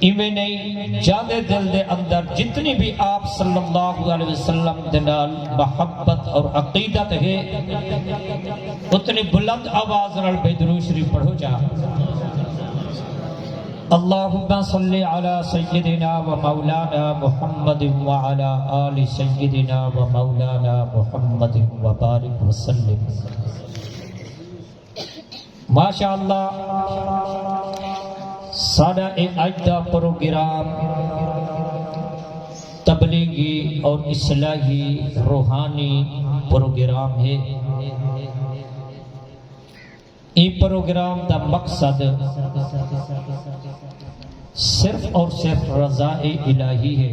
ایویں نئیں جاندے دل دے اندر جتنی وی آپ صلی اللہ علیہ وسلم دے نال محبت اور عقیدت ہے اتنی بلند آواز نال بے درود شریف پڑھو جا اللہم صلی علی سیدنا و مولانا محمد و علی آل سیدنا و مولانا محمد و بارک وسلم ماشاءاللہ ساڈا اے اج دا پروگرام تبلیغی اور اصلاحی روحانی پروگرام ہے ایں پروگرام دا مقصد صرف اور صرف رضا الہی ہے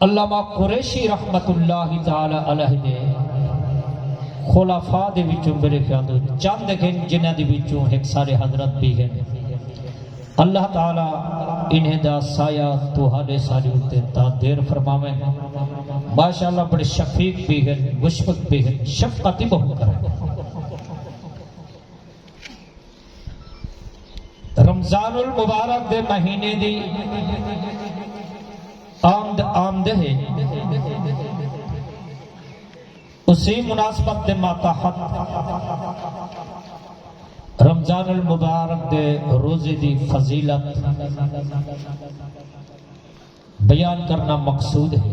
علامہ قریشی رحمت اللہ تعالی علیہ دے خلفاء دے وچوں میرے خیال دو چند گھن جنہ دے وچوں ہک سارے حضرت بھی گھن اللہ تعالی انہیں دا سایہ تو حالے ساری اتے تا دیر فرماویں ماشاءاللہ بڑے شفیق بھی گھن مشفق بھی گھن شفقتی بہو کریں رمضان المبارک دے مہینے دی آمد آمدہ ہے اسی مناسبت دے ماتحت رمضان المبارک دے روزے دی فضیلت بیان کرنا مقصود ہے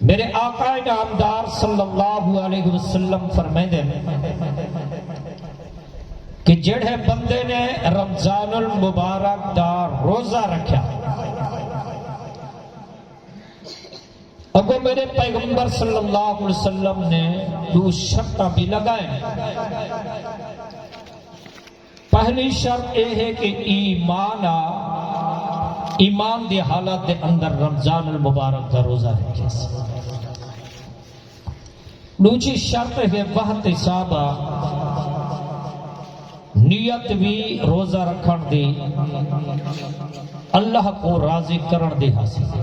میݙے آقا نامدار صلی اللہ علیہ وسلم فرمیندے نے کہ جیڑھے بندے نے رمضان المبارک دا روزہ رکھیا اگو میرے پیغمبر صلی اللہ علیہ وسلم نے دو شرطاں بھی لگائیں پہلی شرط اے ہے کہ ای ما نا ایمان دی حالت دے اندر رمضان المبارک دا روزہ رکھیس۔ ڈوجھی شرط ہے واحتسابا نیت وی روزہ رکھن دی اللہ کوں راضی کرن دی حاصل ہے۔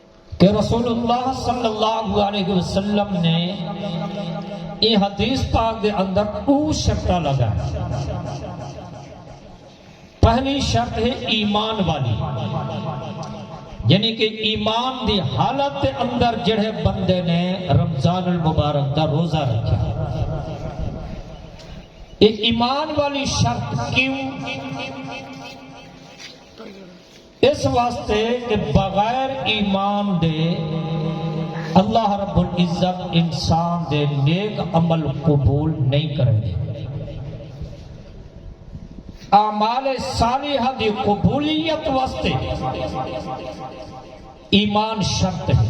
کہ رسول اللہ صلی اللہ علیہ وسلم نے ایں حدیث پاک دے اندر او شرطہ لگا پہلی شرط ہے ایمان والی یعنی کہ ایمان دی حالت دے اندر جڑے بندے نے رمضان المبارک دا روزہ رکھا ایمان والی شرط کیوں اس واسطے کہ بغیر ایمان دے اللہ رب العزت انسان دے نیک عمل قبول نئیں کریندے۔ اعمال صالحہ دی قبولیت واسطے ایمان شرط ہے۔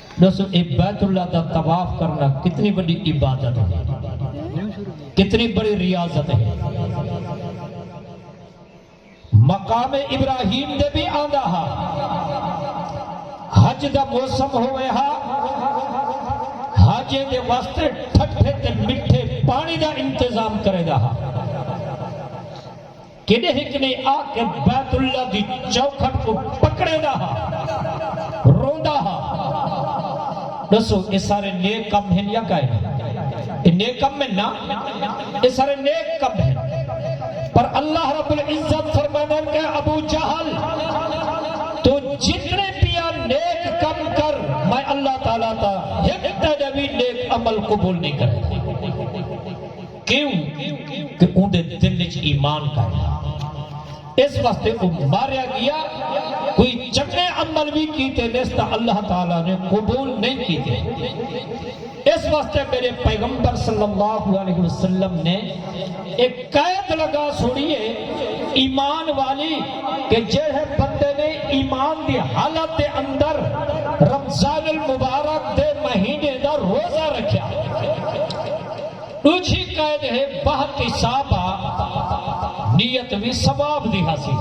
ڈسو اے بیت اللہ دا طواف کرنا کتنی بڑی عبادت ہے کتنی بڑی ریاضت ہے مقام ابراہیم دے بھی آندا ہا حج دا موسم ہوئے ہا حج دے واسطے ٹھٹھے تے مٹھے پانی دا انتظام کرے دا ہا کیݙے ہک نے آ کے بیت اللہ دی چوکھٹ کوں پکڑیندا ہا، روندا ہا۔ ݙسو اے سارے نیک کم ہن یا کائے نی؟ اے نیک کم ہن نا؟ اے سارے نیک کم ہن۔ پر اللہ رب العزت فرمیندن کہ ابو جہل! توں جتنے پیا نیک کم کر میں اللہ تعالی تاں ہک تیݙا وی نیک عمل قبول نی کریندے۔ کیوں کہ اوندے دل اچ ایمان کائے ہا۔ اس واسطے او ماریا گیا۔ کوئی چنگے عمل وی کیتے نیس تاں اللہ تعالی نے قبول نئیں کیتے۔ اس واسطے میڈے پیغمبر صلی اللہ علیہ وسلم نے اے قید لگا سوڑی اے ایمان والی کہ جیڑھے بندے نے ایمان دی حالت دے اندر رمضان المبارک دے مہینے دا روزہ رکھیا۔ ݙوجھی قید ہے بہت اصابہ نیت وی ثواب دی ہاسی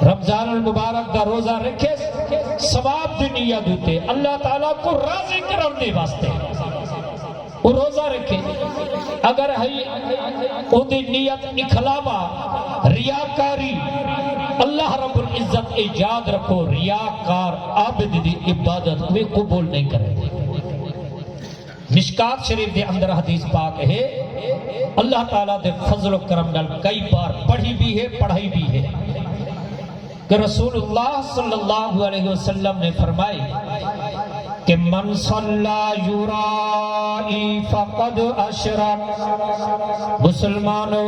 رمضان المبارک دا روزہ رکھیس ثواب دی نیت اتے اللہ تعالی کو راضی کرن دے واسطے او روزہ رکھے اگر ہئی اون دی نیت اخلاوا ریاکاری اللہ رب العزت اے یاد رکھو ریاکار عابد دی عبادت کوئی قبول نہیں کرے مشکوٰۃ شریف دے اندر حدیث پاک ہے اللہ تعالی دے فضل و کرم نال کئی بار پڑھی بھی ہے پڑھائی بھی ہے کہ رسول اللہ صلی اللہ علیہ وسلم نے فرمائی کہ من صلی یرائی فقد اشرک مسلمانوں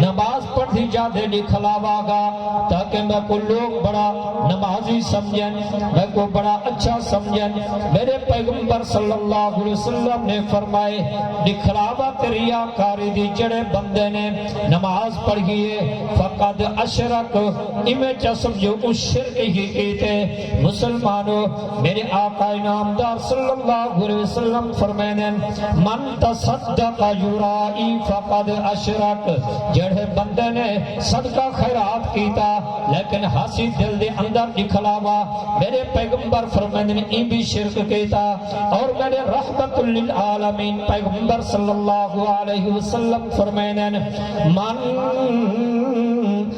نماز پڑھدی جاندے ݙکھلاواں گا تاکہ میکوں لوک بڑا نمازی سمجھن، میکوں بڑا اچھا سمجھن، میݙے پیغمبر صلی اللہ علیہ وسلم نے فرمائے ݙکھلاوا تے ریاکاری دی جیڑھے بندے نے نماز پڑھی ہے فقد اشرک ایویں چا سمجھو اوں شرک ہی کیتے، مسلمانو میݙے آقا انعامدار صلی اللہ علیہ وسلم فرمیندن من تصدق یرائی فقد اشرک جیڑھے بندے نے صدقہ خیرات کیتا لیکن ہاسی دل دے اندر ݙکھلاوا میݙے پیغمبر فرمیندن ایں وی شرک کیتا اور میݙے رحمت للعالمین پیغمبر صلی اللہ علیہ وسلم فرمیندن من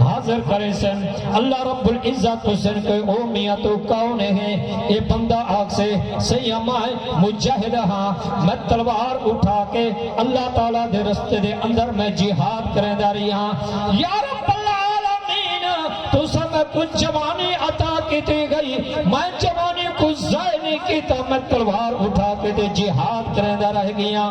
حاضر کریسن اللہ رب العزت پوچھسن کہ او میاں تو کون ہے اے بندہ آکھسے سیاں میں مجاہد ہاں میں تلوار اٹھا کے اللہ تعالی دے رستے دے اندر میں جہاد کریندا ریہاں یا رب العالمین تساں میں کوں جوانی عطا کیتی گئی میں جوانی کوں ضائع نہیں کیتا میں تلوار اٹھا کے تے جہاد کریندا رہ گیاں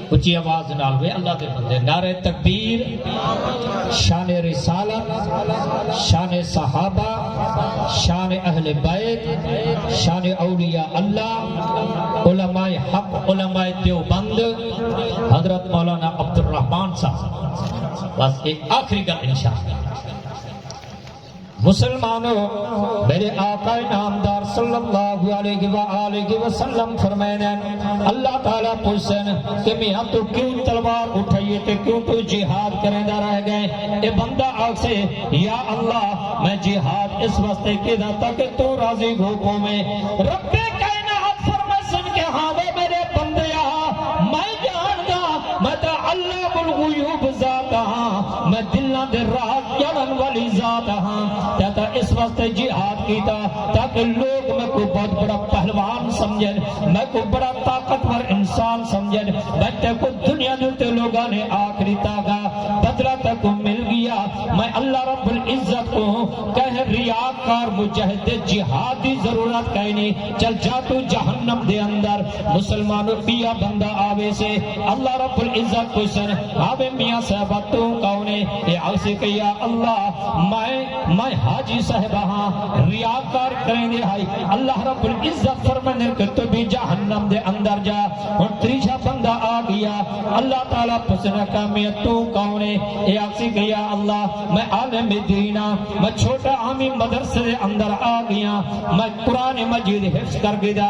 اچھی آواز نال وے اللہ دے بندے نعرہ تکبیر شان رسالت شان صحابہ شان اہل بیت شان اولیاء اللہ علماء حق علماء دیوبند حضرت مولانا عبد الرحمن صاحب بس ایک آخری گل انشاءاللہ مسلمانو! میݙے آقا نامدار صلی اللہ علیہ وآلہ وسلم فرمائن ہن، اللہ تعالی پچھسن کہ میہاں تو کیوں تلوار اٹھائیے تے کیوں تو جہاد کریندا رہ ڳئیں؟ اے بندہ آکھسے، یا اللہ! میں جہاد اس واسطے کیتا تاکہ تو راضی ہو پوویں۔ رب کائنات فرمائسن کہ ہاں وے میݙے بندیا! میں ڄاݨداں میں تاں علام الغیوب ذات ہاں۔ میں دلاں دے راہ چڑھن والی ذات ہاں تے تاں اس واسطے جہاد کیتا تاکہ لوگ میں کو بہت بڑا پہلوان سمجھن میں کو بڑا طاقتور انسان سمجھن میں تے کو دنیا دے تے لوگاں نے آخری تاگا بدلہ تے کو مل گیا میں اللہ رب العزت کو کہہ ریاکار مجاہد جہاد دی ضرورت کہیں نہیں چل جا تو جہنم دے اندر مسلمانوں بیا بندہ آوے سے اللہ رب العزت پچھسن آوے میاں صاحبہ تو کون ہے اے آکھسی کہ یا اللہ میں میں حاجی صاحبہ ہاں ریاکار کریندے ہائی اللہ رب العزت فرمندے کہ تو بھی جہنم دے اندر جا ہن تریجھا بندہ آ گیا اللہ تعالی پچھسن کہ میاں تو کون ہے اے آکھسی کہ یا اللہ میں عالم دین ہاں میں چھوٹا عامی مدرسے دے اندر آ گیا میں قرآن مجید حفظ کر گدا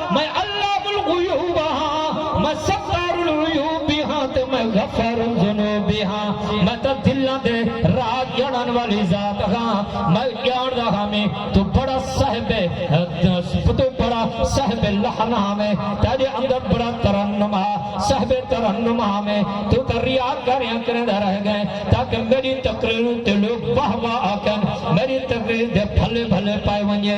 میں علام الغیوب ہاں، میں ستار العیوب وی ہاں تے میں غفار الذنوب وی ہاں۔ میں تاں دلاں دے راز ڄاݨݨ والی ذات ہاں۔ میں ڄاݨدا ہاں میں توں بڑا صاحب توں بڑا صاحب لحن ہاں میں تیݙے اندر بڑا ترنم ہا صاحب ترنم ہاں میں توں تاں ریاکاریاں کریندا رہ ڳئیں تاکہ میݙی تقریر اتے لوک واہ واہ آکھن میݙی تقریر دے بھلے بھلے پئے ونڄے۔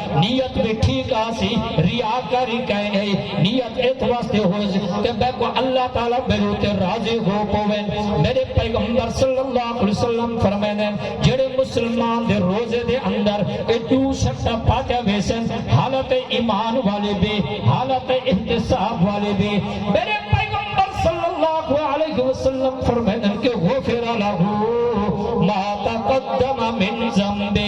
نیت وی ٹھیک آسی ریاکاری کائیں نئی نیت ات واسطے ہوز کہ میں کو اللہ تعالی میرے تے راضی ہو پوے میرے پیغمبر صلی اللہ علیہ وسلم فرمائے جڑے مسلمان دے روزے دے اندر اے دو شرط پاتے ویسن حالت ایمان والے بھی حالت احتساب والے بھی میرے پیغمبر صلی اللہ علیہ وسلم فرمائے کہ غفر لہو ما تقدم من ذنبے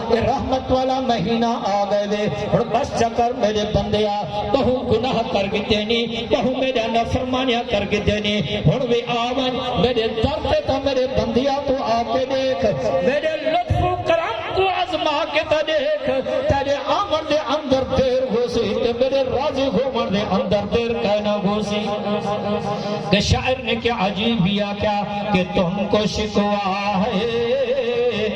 تے رحمت والا مہینہ آ گئے وے ہن بس چکر میرے بندیا تہو گناہ کر گتے نی تہو میرے نفرمانیاں کر گتے نی ہن وی آ ون میرے در تے تا میرے بندیا تو آ کے دیکھ میرے لطف و کرم کو ازما کے تا دیکھ تیرے آمن دے اندر دیر ہو سی تے میرے راضی ہو من دے اندر دیر کہنا ہو سی کہ شاعر نے کیا عجیب کیا کہ تم کو شکوا ہے